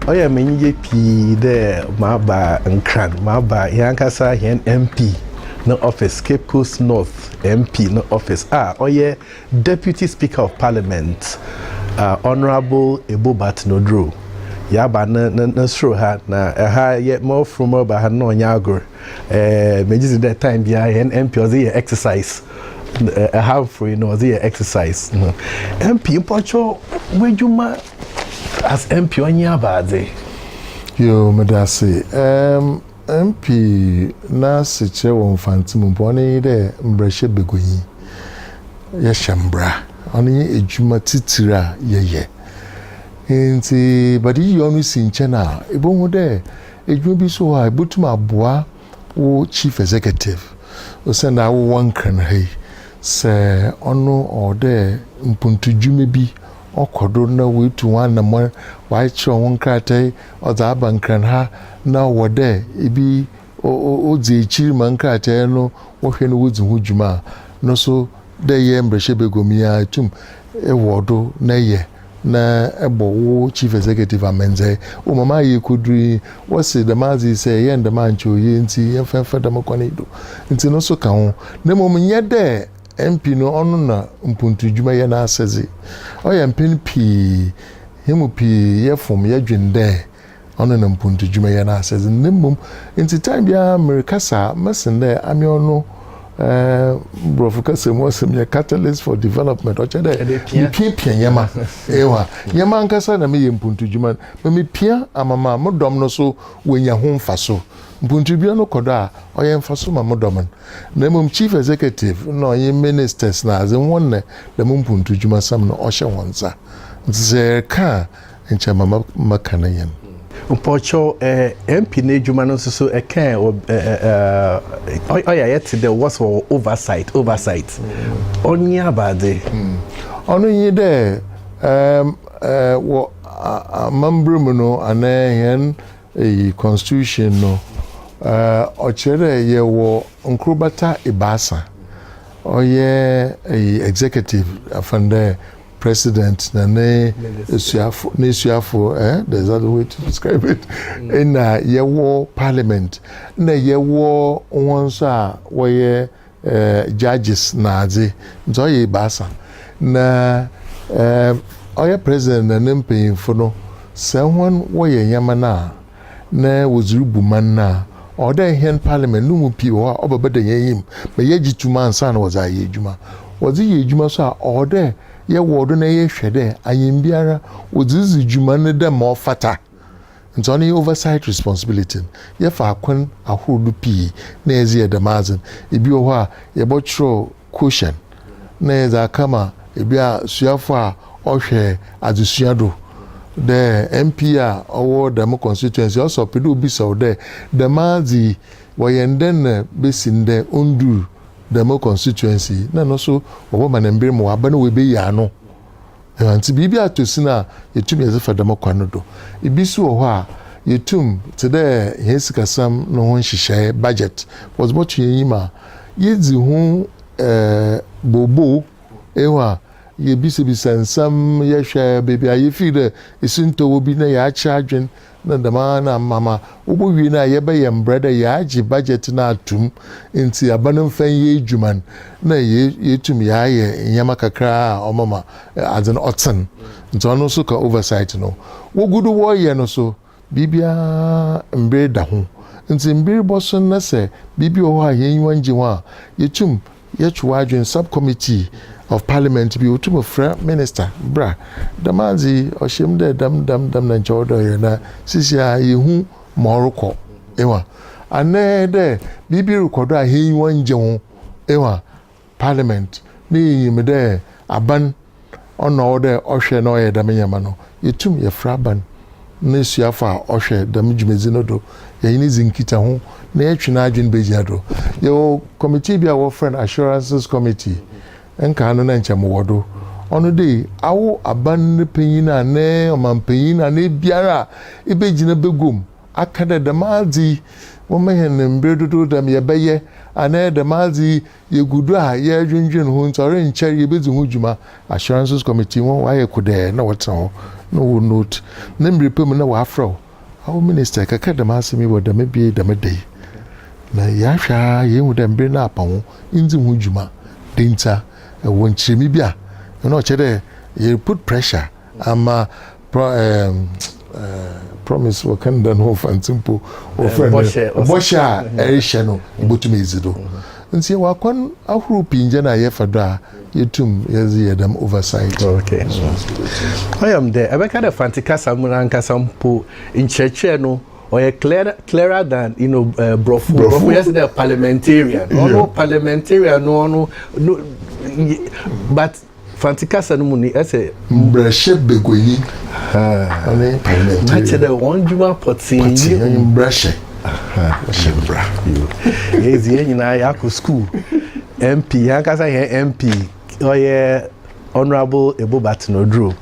ɔyɛ me enyigye pii dɛ maba nkran maba hɛn ankasa hɛn mp no office cape coast north mp no office a ɔyɛ deputy speaker of parliament uh, honourable ebo batnoduro yaba ne ne ne soro ha na ɛha yɛ mɔforo mɔba ha na ɔnyɛ agor Eh, megye dzi dɛ time biara hɛn MP ɔdze yɛ exercise. Eh, ɛha mfori no ɔdze yɛ exercise. MP mpɔtwɔ w'edwuma as MP ɔnye abaadze. Yo, meda ase. Um, MP n'asekyerɛ wɔ Mfantse mu mpo, ɔno nye dɛ mbrahyɛ baguanyi. Yɛhyɛ mbra. Ɔno nye edwuma tsitsir a yɛyɛ. Ntsi, but iyi yɛ ɔno si nkyɛn a, ibohu dɛ, Edwuma bi so wɔ hɔ a ebotum aboa wo chief executive osiandɛ awowɔ nkra no ha yi. Sɛ ɔno ɔwɔ dɛ mpontudwuma bi ɔkɔ do na woetu ho anamɔn, wɔakyerɛw ho nkratae ɔdze aba nkran ha na ɔwɔ dɛ bi odzi ekyir ma nkratae no wɔhwɛ na wodzi ho dwuma a, no so dɛ eyɛ mbrahyɛbaguam yi ara itum wɔ do na eyɛ. na bɔ wo Chief Executive amandzeɛ. O ma m'ayɛ koduru yi, wɔse dɛm adze yi sɛ yɛyɛ no dɛm a nkyɛ oye ntsi yɛmfa mfa dɛm kwan yi do. Ntsi no so ka ho. Na mbom nnyɛ dɛ MP no ɔno na mpontu dwuma yɛ n'asɛdze. Ɔyɛ mpɛn pii hɛn mu pii yɛfom yɛdwen dɛ Ɔno na mpontudwuma yɛ n'asɛdze, na mbom ntsi tam biara merekasa a, mɛsen dɛ amea ɔno, ɛɛm, Borɔfo kasa mu ɔsɛm yɛ catalyst for development, ɔkyerɛ dɛ mepiapia nyɛma, ewa, nyɛma ankasa na meyɛ mpontudwuma no, ma mipia ama ma mo dɔm no so woenya ho mfaso. Mpontudwuma no kɔ do a, ɔyɛ mfaso ma mo dɔm no, na mbom Chief Executive na ɔnye Ministers na adze, hɔn na dɛm mpontudwumasɛm no ɔhyɛ hɔn nsa. Ntsi sɛ yɛrekã a, Nkyɛ ma mɛka ne yɛn. Mpɔkyɛw eh MP no adwuma no nso so ɛka eh eh ɔyɛ ayɛ te dɛ wɔsɔ wɔ oversight oversight ɔnye abade. Hmm. Ɔno nye dɛ um eh wɔ amambra mu no anaa hɛn eyi constitution no eh ɔkyerɛ dɛ yɛwɔ nkorbata ebiasa ɔyɛ eyi executive afandɛ. President na ne asuafo n'asuafo eh there's another way to describe it ɛna yɛwɔ parliament na yɛwɔ wɔn nso a wɔyɛ eh, judges na adze nti ɔyɛ ebaasa na eh, ɔyɛ president na ne mpanyinfo no sɛ wɔn wɔyɛ nneɛma no a. na wɔdze rubu man no a, ɔwɔ dɛ hɛn parliament no mu pii wɔ hɔ a ɔbɛbɛda hɛn enyim ma yɛagye tum ansaana wɔdze ayɛ edwuma. Wɔdze yɛ edwuma so a, ɔwɔ dɛ yɛwɔw do na yɛhwɛ dɛ ayɛmbiara wɔdze ridzi dwuma no dɛ ma ɔfata. Ntsi ɔno yɛ oversight responsibility no. Yɛfa akwan ahorow do pii na yɛdze yɛ dɛm adze no. Bi wɔ hɔ a, yɛbɔkyerɛw. Cushion na yɛdze aka ma bi a suafo a ɔhwɛ adzesua do dɛ MP a ɔwɔ dɛm constituency a, ɔsɛ ɔpɛ dɛ obisa wo dɛ, dɛm adze yi wɔyɛ no dɛn na besi ndɛ onndur dɛm constituency yi na no so wɔbɛma no mber ma ɔaba na oebeyi ano. Ntsi biribi atɔ sin a, yetum yɛdze fa dɛm kwan no do. Bi so wɔ hɔ a, yetum, tse dɛ hɛn sikasɛm no ho nhyehyɛɛ, budget, wɔdze bɔto hɛn enyim a, yedzi ho boobow, ehu a, yebisabisa nsɛm, yɛhwɛ beebi a yefir dɛ esintɔ wɔ bi na yɛakyerɛ adwen na dɛm ara na ama ma wobowie no a yɛbɛyɛ mbrɛ dɛ yɛagye budget no ato mu ntsi aba no mfa nyɛ edwuma no na yeetum yɛayɛ ndzɛmba kakra a ɔma ma adze no ɔtsen. Ntsi ɔno so ka oversight no wogu do wɔreyɛ no so. Biribiara mber da ho ntsi mber bɔson na sɛ biribi wɔ hɔ a hɛn enyiwa nngye ho a yetum Yɛtwe w'adwen Subcommittee of Parliament bi otum frɛ Minister bra dɛm adze yi ɔhyɛ mu dɛ dɛm dɛm dɛm na nkyɛ ɔwɔ dɛ ɔyɛ na sisiara yehu ma ɔrokɔ ewa anɛɛ dɛ biribi rokɔ do a hɛn enyiwa nngye ho ewa Parliament ne yenyim dɛ aban Ɔno na ɔwɔ dɛ ɔhwɛ na ɔyɛ dɛm ndzɛmba no. Yetum yɛfrɛ aban na esuafo a wɔhwɛ dɛm dwumadzi no do, yɛnye no dzi nkitaho, na yɛtwe n'adwen begyina do. Yɛwɔ kɔmitii bi a wɔfrɛ no Assurances Committee, nkaa no na nkyɛ mowɔ do. Ɔno de, awo aban ne panyin a ne ɔmampanyin anaa ebiara a ibegyina begua mu aka dɛ dɛm adze yi wɔma hɛn mber dodow dɛm yɛbɛyɛ anaa dɛm adze yi Yegu do a yɛrodwendwen ho ntsi, ɔrennkyɛr yebedzi ho dwuma. Assurances Committee hɔn wɔayɛ kodɛɛ na wɔtsena hɔ na wɔwɔ note na mber pa mu na wɔafrɛ wo, Awo Minister, yɛkɛkɛr dɛm asɛm yi wɔ dɛm bea yi dɛm da yi, na yɛahwɛ ara yeehu dɛ mber no apa ho nndzi ho dwuma. Dɛn ntsi a? Ewɔ nkyerɛmu bi a? Nna ɔkyerɛ dɛ yɛre put pressure Ama pro ɛɛm ɛɛm promise wɔka no dɛn ho fanti mpo wɔfrɛ no bɔhyɛ a ɛrehyɛ no yebotum edzi do ntsi wɔ akwan ahorow pii ngyɛ no a yɛfa do a yetum yɛdze yɛ dɛm oversight. Okay ɔyɛ me dɛ ɛbɛka dɛ fanti kasa mu nankasa mpo nkyerɛkyerɛ no ɔyɛ clear clearer than you know ɛɛ brɔfo brɔfo yɛ se dɛ parliamentarian ɔno parliamentarian no ɔno no but. Franse kasa no mu ni ɛsɛ. Mbrɛhyɛ baguanyi ne parliamentarian. Na kyerɛ dɛ wɔn dwuma pɔtee yɛ. Pɔtee yɛ mbrɛhyɛ hyɛ mbra. Yɛdze yɛn nyinaa yɛakɔ sukuu MP yɛn ankasa yɛn MP ɔyɛ Honourable Ebo Baten Oduro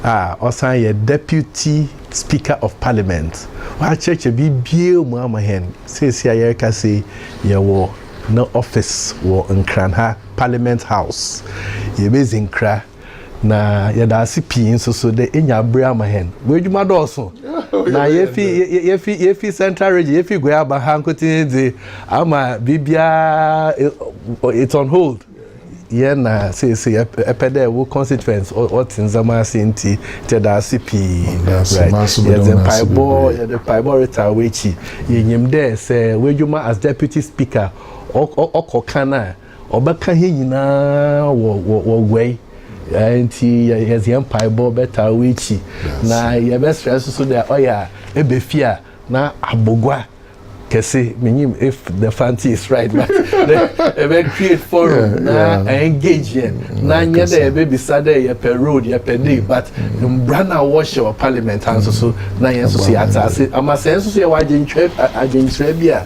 a ɔsan yɛ Deputy Speaker of Parliament wɔakyerɛkyerɛ biribiara mu ama hɛn seesei a yɛrekasa yi yɛwɔ ne office wɔ Nkran ha. Parliament House. Yebedzi nkra, na yɛda ase pii nso so dɛ enya aber ama hɛn. W'edwuma dɔɔ sõ, na yefi yefi yefi Central Region, yefi Goiaba ha nkotsee dze ama biribiara it's on hold. Yɛn na seesei epɛ dɛ wo constituents wɔtse ndzɛmba ase ntsi yɛda ase pii. Right, yɛdze mpaebɔ yɛdze mpaebɔ retsa w'ekyir. Yenyim dɛ sɛ w'edwuma as Deputy Speaker ɔkɔ kan a ɔbɛka hɛn nyina wɔ wɔ wɔ guai eh, nti yɛdze hɛn mpaebɔ bɛtaa w'ekyi na yɛbɛsrɛ nso so dɛ ɔyɛ a ebefi a na abogua kɛse menyim if the fanti is right but ɛbɛ create forum na engage yɛn na nyɛ dɛ yɛbɛbisa dɛ yɛpɛ road yɛpɛ dei but mbra no a wɔhyɛ wɔ parliament ha nso so na yɛn nso so yɛate ase ama sɛ nso so yɛwɔ adwenkyerɛ bi a